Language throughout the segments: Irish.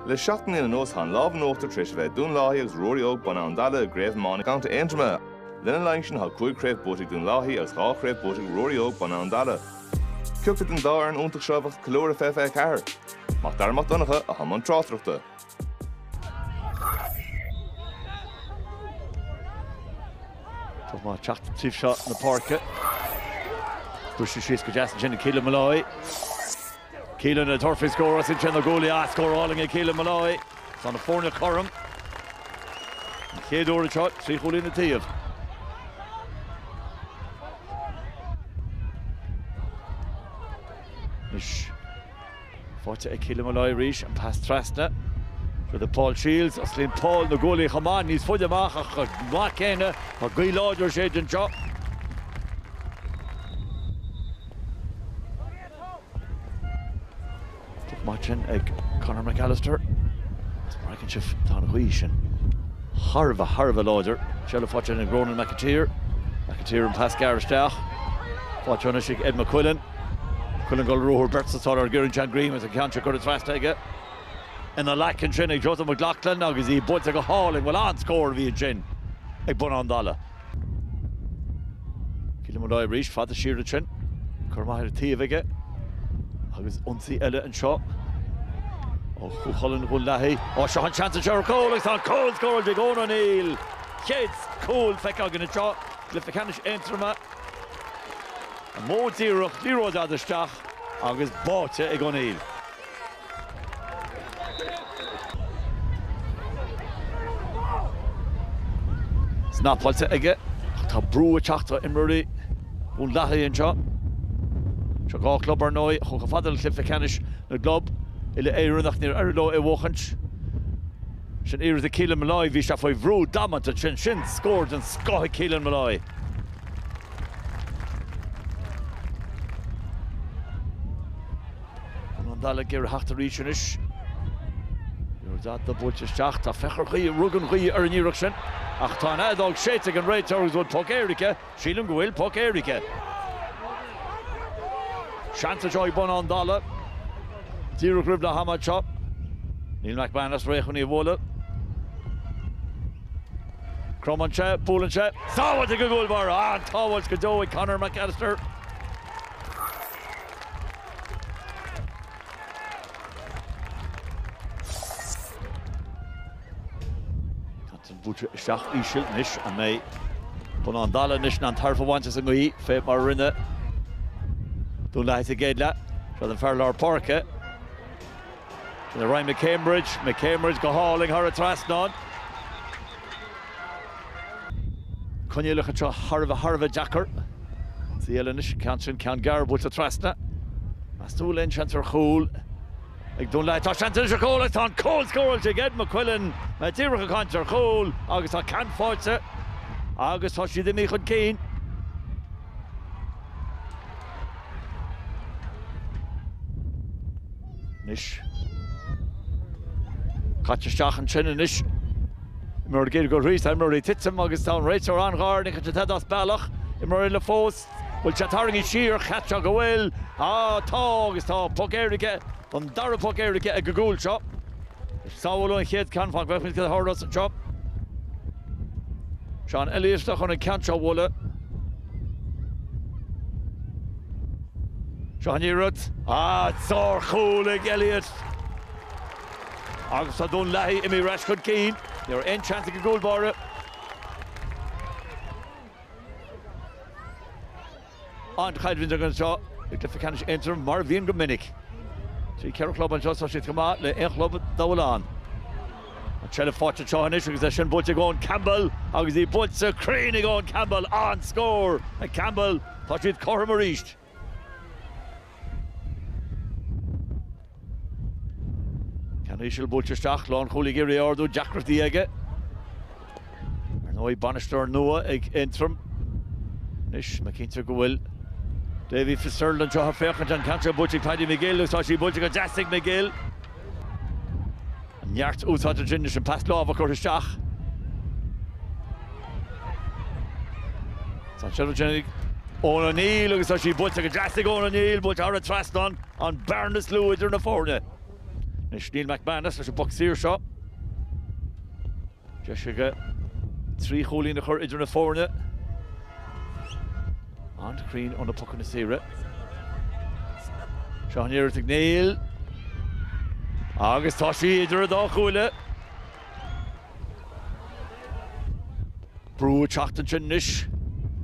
Le seacht mbliana anuas tá an lámh in uachtar tar éis a bheith ag Dún Lathaí agus Ruairí Óg Bun Abhann Dalla i gCraobh Iomána Contae Aontroma. Lena linn sin tá cúig chraobh buaite ag Dún Lathaí agus dhá chraobh buaite ag Ruairí Óg Bun Abhann Dalla. Cé acu den dá fhoireann iontach seo a bheadh ag ceiliúradh i bhfiche fiche a ceathair. Mac Dara Mac Donncha atá i mbun tráchtaireachta. Poc amach ag teacht taobh seo na páirce. Briseadh síos go deas ansin ag Keelan Molloy. Keelan ag tabhairt faoi scór, osclaíonn sé na guaillí is scór álainn ag Keelan Molloy. Tá na foirne cothrom. An chéad uair anseo, trí chúilín an taobh. Anois. Faighte ag Keelan Molloy arís, an pas trasna fhad le Paul Shields. Osclaíonn Paul na guaillí chomh maith, níos faide amach ach chomh maith céanna. Tá gaoth láidir ag séideadh anseo. Stop maith ansin ag Conor McAllister agus mar a fheiceann sibh tá an ghaoth sin thar a bheith, thar a bheith láidir. Seilbh faighte ag Ronan McAteer. McAteer an pas gearr isteach. Faighte anois ag Ed McQuillan. McQuillan ag dul ar ruathar, beirt sa tóir air Geraint John Greene agus an ceann seo curtha trasna aige ina ghlac ansin ag Joseph McLaughlin agus í buailte go hálainn. Bhuel an-scór a bhí ansin ag Bun Abhann Dalla. Keelan Molloy arís fada siar ansin. Cor maith ar an taobh aige agus ionsaí eile anseo ó Chú Chulainn Dhún Lathaí. Ó seo an seans anseo ar chúl agus tá an cúl scóráilte ag Eoghan O'Neill. Chéad chúl feicthe againn anseo i gcluiche ceannais Aontroma. Mó díreach liathróid fhada isteach agus báite ag O'Neill. Snapáilte aige ach tá brú ag teacht ar imreoirí Dhún Lathaí anseo. Seo dhá chlub, ar ndóigh, a chuaigh chomh fada le cluiche ceannais na gclub uile-Éireann ach níor éirigh leo é a bhuachaint. Sin iarracht ag Keelan Molloy, bhí sé faoi bhrú damanta ansin. Sin scór den scoth ag Keelan Molloy. Bun Abhann Dalla ag iarraidh theacht arís anois. Liathróid fhada buailte isteach, ach feictear, rug an ghaoth ar an iarracht sin ach tá an fheadóg séidte ag an réiteoir agus an bhfuil poc éirice. Sílim go bhfuil poc éirice. Seans anseo ag Bun Abhann Dalla, díreach roimh leath-am anseo. Neil McManus réidh chun í a bhualadh. Cromann sé, buaileann sé. Sábháilte ag an gcúl báire! An-tsábháil go deo ag Conor McAllister. Sin buailte isteach íseal anois. An mbeidh Bun Abhann Dalla anois in ann tairbhe a bhaint as an ngaoth fé mar a rinne Dún Lathaí sa gcéad leath? Seo don fear lár páirce. Sin Ryan McCambridge. McCambridge go hálainn thar an trasnán. Coinníollacha anseo thar a bheith, thar a bheith deacair. Ciall anois, ceann sin, ceann gearr buailte trasna. Meas tú bhfuil aon seans ar chúl? Ag dul leat tá an-seans ar chúl agus tá an cúl scóráilte ag Ed McQuillan. Mé díreach ag caint ar chúl agus tá ceann faighte agus tá siad imithe chun cinn. Anois. Caite isteach ansin anois. Imreoir ag iarraidh dul thíos, tá imreoirí ag titim agus tá an réiteoir an-ghar, ní fheictear tada as bealach. Imreoir eile fós. Bhfuil sé tarraingthe siar, cheapfá go bhfuil. Á, tá agus tá. Poc éirice, an dara poc éirice ag an gcúl seo. Is sábháladh an chéad cheann, feicfimid cad a tharlós anseo. Seán Elliott chun an ceann seo a bhualadh. Seo an iarracht. Á, sárchúl ag Elliott. Agus tá Dún Lathaí imithe ar ais chun cinn. Ní raibh aon tseans ag an gcúl báire. An-choimhlint againn anseo i gCluiche Ceannais Aontroim, mar a bhíonn go minic. Trí, ceithre chlub anseo, tá siad chomh maith le haon chlub dá bhfuil ann. An tseilbh faighte anseo anois agus í sin buailte ag Eoin Campbell agus í buailte cruinn ag Eoin Campbell. An-scór ag Campbell. Tá siad cothrom arís. Ceann íseal buailte isteach, lánchúlaí ag iarraidh í a ardú, deacrachtaí aige. Ar ndóigh, bainisteoir nua ag Aontroim anois, mé cinnte go bhfuil Davy Fitzgerald anseo ag féachaint, an ceann seo buailte ag Paddy McGill agus tá sí buailte go deas ag McGill. Neart úsáid ansin leis an bpas láimhe a chur isteach. Tá an tseilbh ansin ag Eoin O'Neill agus tá sí buailte go deas ag Eoin O'Neill, buailte thar an trasnán, an bearna is lú idir na foirne. Anois Neil McManus leis an bpoc saor seo. Deis aige trí chúilín a chur idir na foirne. An-chruinn ó na pocanna saora. Seo an iarracht ag Neil agus tá sí idir an dá chuaille! Brú ag teacht ansin anois.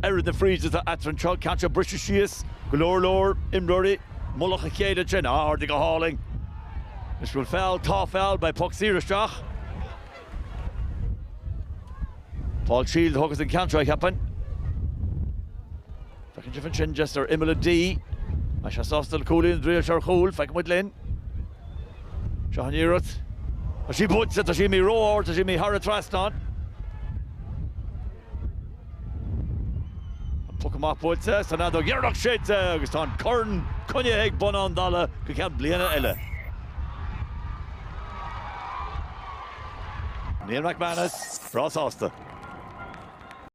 Oiread na fríde atá eatarthu anseo, ceann seo ag briseadh síos, go leor leor imreoirí. Mullach a chéile ansin ardaithe go hálainn. An bhfuil feall tá feall, beidh poc saor isteach. Paul Shiels a thógfas an ceann seo, cheapfainn. Feicfidh sibh ansin Jester ar imeall an D. Beidh sé sásta le cúilín nó ag triail ar chúl, feicfidh muid linn. Seo an iarracht. Tá sí buailte, tá sí imithe ró-ard, tá sí imithe thar an trasnán. An puc amach buailte is an fheadóg dheireanach séidte agus tá an corn coinnithe ag Bun Abhann Dalla go ceann bliana eile. Neil McManus, breá sásta.